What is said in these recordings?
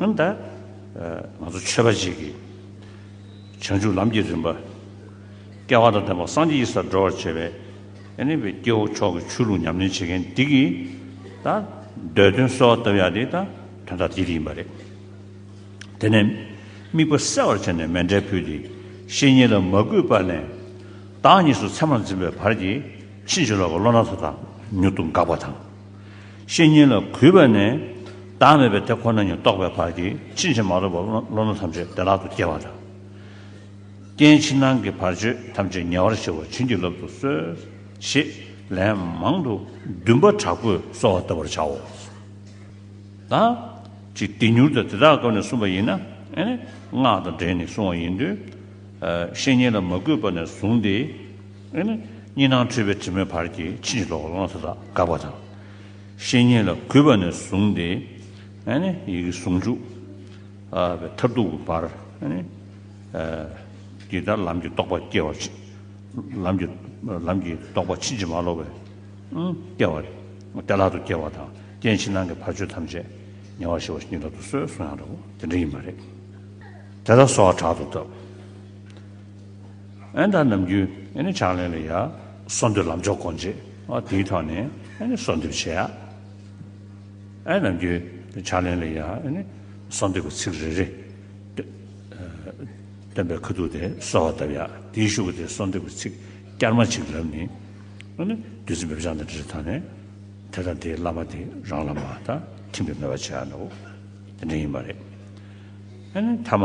འོན་ཏེ། ང་ཚོ་ཆོས་པ་ཅིག་གིས་བྱང་ཆུབ་ལམ་གྱི་རིམ་པ་སྐལ་བ་དང་ལྡན་པ་སངས་རྒྱས་ཀྱི་སར་འགྲོ་བར་བྱེད་པའི་གནས་པའི་སྐྱེ་བོ་མཆོག་གི་ཆོས་ལུགས་ཉམས་ལེན་བྱེད་མཁན་འདི་གིས་ད་གདོད་དོན་གསོལ་བ་བཏབ་ཡག་དེ་ད་དོན་དག་འདི་ཡིན་པ་རེད། དེ་ནས་དམིགས་པ་གསལ་བར་བྱས་ནས་མེ་འབྲས་ཕུལ་ཏེ་བཤེས་གཉེན་ལ་མ་གུས་པ་ནས་བདག་གཉིས་སུ་མཚན་མར་འཛིན་པའི་བར་གྱིས་ཕྱིན་ཅི་ལོག་གི་བློ་སྣ་ཚོགས་དང་མྱུར་དུ་འགགས་པ་དང། བཤེས་གཉེན་ལ་གུས་པ་ནས་བདག་མེད་པའི་དེ་ཁོ་ན་ཉིད་རྟོགས་པའི་བར་གྱིས་ཕྱིན་ཅི་མ་ལོག་པའི་བློ་སྣ་ཐམས་ཅད་བདེ་བླག་ཏུ་སྐྱེ་བ་དང། རྐྱེན་ཕྱི་ནང་གི་བར་གཅོད་ཐམས་ཅད་ཉེ་བར་བྱེད་པར་བྱིན་གྱིས་བརླབ་ཏུ་གསོལ། ཞེས་ལན་མང་དུ་འདུན་པ་དྲག་པོས་གསོལ་བ་གདབ་པར་བྱའོ། དང། ཅིག་དེ་མྱུར་དུ་དེ་དག་སྐབས་ནས་བསྲུངས་པ་ཡིན་ན། སྔགས་དང་སྦྲེལ་ནས་བསྲུང་བ་ཡིན། བཤེས་གཉེན་ལ་མ་གུས་པ་ནས་བཟུང་སྟེ། དབེན་ནས་གཉིས་སྣང་འཁྲུལ་པའི་དྲི་མའི་བར་གྱི་ཕྱིན་ཅི་ལོག་བླང་དོར་དག་དགག་པ་དང། བཤེས་གཉེན་ལ་གུས་པ་ནས་བཟུང་སྟེ། དབེན་ནས་ཡི་གེ་ཟུང་འཇུག་པའི་མཐར་ཐུག་གི་བར། འདི་ལྟར་ལམ་གྱི་རྟོགས་པ་སྐྱེ་བ་ཕྱིན། ལམ་གྱི་རྟོགས་པ་ཕྱིན་ཅི་མ་ལོག་པའི་སྐྱེ་བ་སྟེ་ལྷག་ཏུ་སྐྱེ་བ་དང་རྐྱེན་ཕྱི་ནང་གི་བར་ཆོད་ཐམས་ཅད་ཉེ་བར་ཞི་བ་ཉིད་ལ་དུ་གསོལ་གསུང་ཡང་འདྲ་བོ་དེ་འདྲ་ཡིན་པ་རེད། དེ་ལ་སོགས་གྲགས་དུ་བཏབ། ཨན་དང་ནམ་རྒྱུན་ནི་ཕྱག་ལེན་ལ་ཡ། སོ་འདོད་ལམ་མཆོག་གོ་འབྱེད་དེའི་ཐོག་ནས་ནི་སོ་འདོད་བྱེད་ཡ། ཨན་ནམ་རྒྱུན་ཕྱག་ལེན་ལ་ཡ། སོ་འདོད་པའི་ཚིག་རེ་རེ། སྟོན་པའི་ཁུ་ཐུག་དེ་གསོལ་བ་གདབ་ཡ། དེའི་བཞུགས་དེ་སོ་འདོད་པའི་ཚིག་བསྐྱར་མ་གཅིག་ལབ་ནི། བདུད་རྩི་འབེབས་སྦྱང་དང་དྲིལ་བསྒྲགས་ནི། དེ་དང་དེའི་བླ་མ་དེ་རང་བླ་མ་དང་མཐུན་པའི་མོས་པ་བྱེད་ཡ། དེ་འདྲ་ཡིན་པ་རེད། ཐ་མ།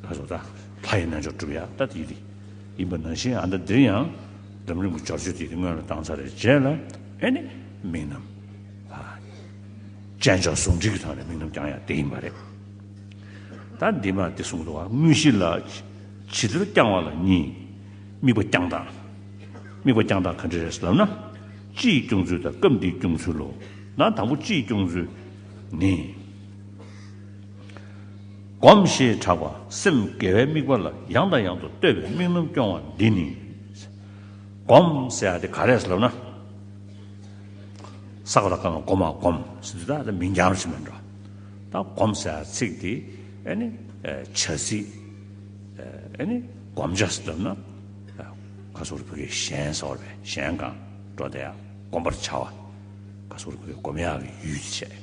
ལྷ་ཚོགས་དང་ལྷ་ཡི་རྣལ་འབྱོར་བསྒྲུབ་ཡག་ལྟ་དེ་རིགས་ཡིན་པ་ནང་བཞིན་ཨ་མདའ་འདིར་ཡང་འཛམ་གླིང་གི་འབྱོར་བཅུ་དེ་རིགས་སྔོན་ལ་བཏང་ཚར་རེད་རྗེས་ལ་ཨེ་ནས་མིང་རྣམས་དཔྱད་འཇོག་ཟུང་འབྲེལ་གྱི་ཐོག་ནས་མིང་རྣམས་རྐྱང་ཡག་དེ་ཡིན་པ་རེད། ད་འདི་མ་དེ་གསུངས་འདུག་བ་དངོས་གཞི་ལ་ཇི་ལྟར་རྐྱང་བ་ལ་གཉིས། དམིགས་པ་རྐྱང་སྟངས། དམིགས་པ་རྐྱང་སྟངས་ག་འདྲས་རེད་ལབ་ན། སྤྱི་ཡི་སྐྱོང་ཚུལ་དང་སྐབས་འདིའི་སྐྱོང་ཚུལ་ལོ། ད་དང་པོ་སྤྱི་ཡི་སྐྱོང་ཚུལ་ནི། སྒོམ་ཞེས་གྲགས་པ་སེམས་དགེ་བའི་དམིགས་པ་ལ་ཡང་དང་ཡང་དུ་བསྟོད་པའི་དམིགས་རྣམ་སྐྱོང་བ་འདི་ནི། སྒོམ་ཟེར་བ་དེ་ག་རེ་ལབ་ན། བསགས་པ་དང་བསྐང་བ་སྒོམ་མ་སྒོམ་ཟེར་དུས་ད་མིང་འགྱངས་ཕྱིན་པ་འདྲ། ད་སྒོམ་ཟེར་བ་ཚིག་དེ་ཨེ་ནི་བྱ་ཚིག་ཨེ་ནི་སྒོམ་བྱ་ཟེར་ལབ་ན། ག་སོགས་རི་བོ་གའི་གཞན་ཟེར་བ་ལས་གཞན་གང་འགྲོ་དེ་ཡང་སྒོམ་པར་བྱ་བ། ག་སོགས་རི་བོ་གའི་སྒོམ་ཡག་གི་ཡུལ་དེ་བྱས།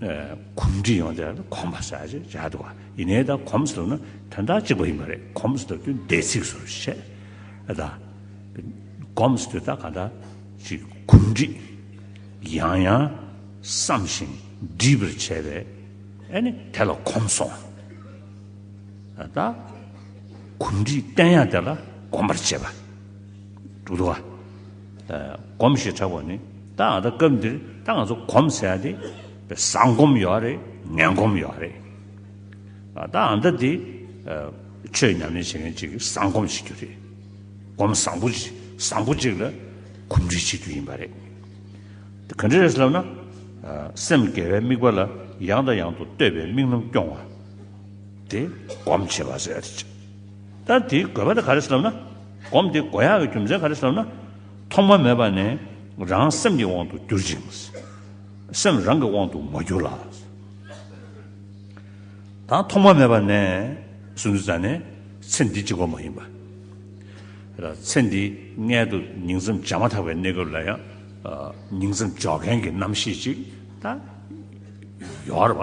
གོམས་འདྲིས་ཡོང་སྟེ་གོམས་པ་སར་བྱ་སྟེ་བ་ཡིན་ནའི་ད་གོམས་ཟེར་ན་དོན་དག་གཅིག་པ་ཡིན་པ་རེད་གོམས་ཟེར་དུས་འདས་ཚིགས་སུ་བཤད་ཨ་ད་གོམས་ཟེར་དུས་ད་ག་འདྲ་ཅིག་གོམས་འདྲིས་ཡང་ཡང་བསམ་ཞིང་འདྲིས་པར་བྱས་པས་ཨ་ནི་དེ་ལ་གོམས་སོང་ཨ་ད་གོམས་འདྲིས་བསྟན་ཡང་དེ་ལ་གོམས་པར་བྱེད་པ་འདུག་ཏུ་བ། སྒོམ་ཞེས་གྲགས་པ་ནི་ད་ང་ད་སྐབས་འདིར་ད་ང་ཚོ་གོམས་ཟེར་ཡ་དེ་བཟང་སྒོམ་ཡོད་རེད་ངན་སྒོམ་ཡོད་རེད། ད་ང་ད་དེ་ཆོས་ཉམས་ལེན་བྱེད་མཁན་གཅིག་གིས་བཟང་སྒོམ་བྱེད་རྒྱུ་རེད། སྒོམ་བཟང་པོ་བཟང་པོ་གཅིག་ལ་གོམས་འདྲིས་བྱེད་རྒྱུ་ཡིན་པ་རེད། ག་འདྲ་རེད་ལབ་ན། སེམས་དགེ་བའི་དམིགས་པ་ལ་ཡང་དང་ཡང་དུ་བསྟོད་པའི་དམིགས་རྣམ་སྐྱོང་བ། དེ་སྒོམ་བྱེད་པ་ཟེར། ལྟར་དེའི་དགོས་པ་དེ་ག་རེ་ཞེས་ལབ་ན། སྒོམ་དེའི་དགོས་ཡག་གི་རྒྱུ་མཚན་ག་རེ་ཞེས་ལབ་ན། ཐོག་མ་མེད་པ་ནས་རང་སེམས་ཀྱི་དབང་དུ་གྱུར་ཅིང། སེམས་རང་གི་དབང་དུ་མ་གྱུར་ལ། དང་ཐོག་མ་མེད་པ་ནས་སུ་འདི་ཙམ་ནི་ཚེ་འདི་གཅིག་པ་མ་ཡིན་པ། ར་ཚེ་འདི་མངལ་དུ་ཉིང་མཚམས་འཇགས་མ་ཐག་པའི་གནས་སྐབས་ལ་ཡང་ཉིང་མཚམས་འཇོག་མཁན་གྱི་རྣམ་ཤེས་ཅིག་ད་ཡོད་པ།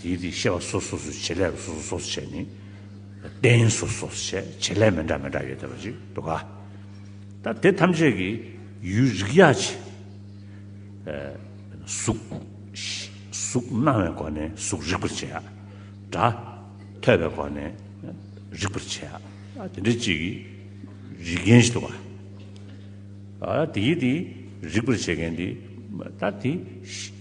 དེའི་དེ་ཤེས་པ་སོ་སོ་སོ་བྱེད་ལས་སོ་སོ་སོ་བྱེད་ནི། རྟེན་སོ་སོ་སོ་བྱེད་བྱེད་ལས་མི་འདྲ་མི་འདྲ་ཡོད་དེ་བ་ཅིག་འདུག་ག། ད་དེ་ཐམས་ཅད་ཀྱི་ཡུལ་རིག་ཡ་ཆེ། གཟུགས། གཟུགས་སྣང་བའི་སྒོ་ནས་གཟུགས་རིག་པར་བྱེད། སྒྲ། ཐོས་པའི་སྒོ་ནས། རིག་པར་བྱེད། དེ་འདྲ་གཅིག་གིས། རིག་མཁན་ཞིག་འདུག་ག། ད་དེའི་དེ་རིག་པར་བྱེད་མཁན་དེ། ད་དེ།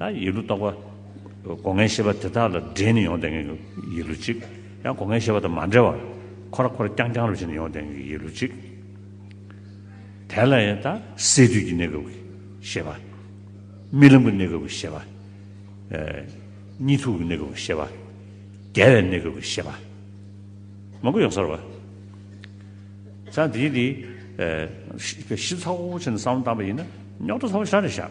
ཡང་ཡིག་འབྲུ་རྟོག་པ། སྒོ་ངའི་ཤེས་པ་དེ་དག་ལ་འདྲེས་ནས་ཡོང་ལྡན་གྱི་ཡིག་འབྲུ་གཅིག། ཡང་སྒོ་ངའི་ཤེས་པ་དང་མ་འདྲེས་པར་ཁོ་ར་ཁོ་ར་རྐྱང་རྐྱང་རུ་བྱས་ནས་ཡོང་ལྡན་གྱི་ཡིག་འབྲུ་གཅིག། དེ་ལ་ཡང་སད་དུས་ཀྱི་གནས་སྐབས་ཀྱི་ཤེས་པ། རྨི་ལམ་གྱི་གནས་སྐབས་ཀྱི་ཤེས་པ། གཉིད་འཐུག་གི་གནས་སྐབས་ཀྱི་ཤེས་པ། བརྒྱལ་བའི་གནས་སྐབས་ཀྱི་ཤེས་པ། མང་པོ་ཡོང་ས་རུ་བ། ཚ་འདིའི་འདི། གཞི་ཚ་བོ་ཆེ་ནས་བསམ་བློ་བཏང་པ་ཡིན་ན་རྙོག་དྲ་ཚ་བོ་ཤ་རེ་བཞག།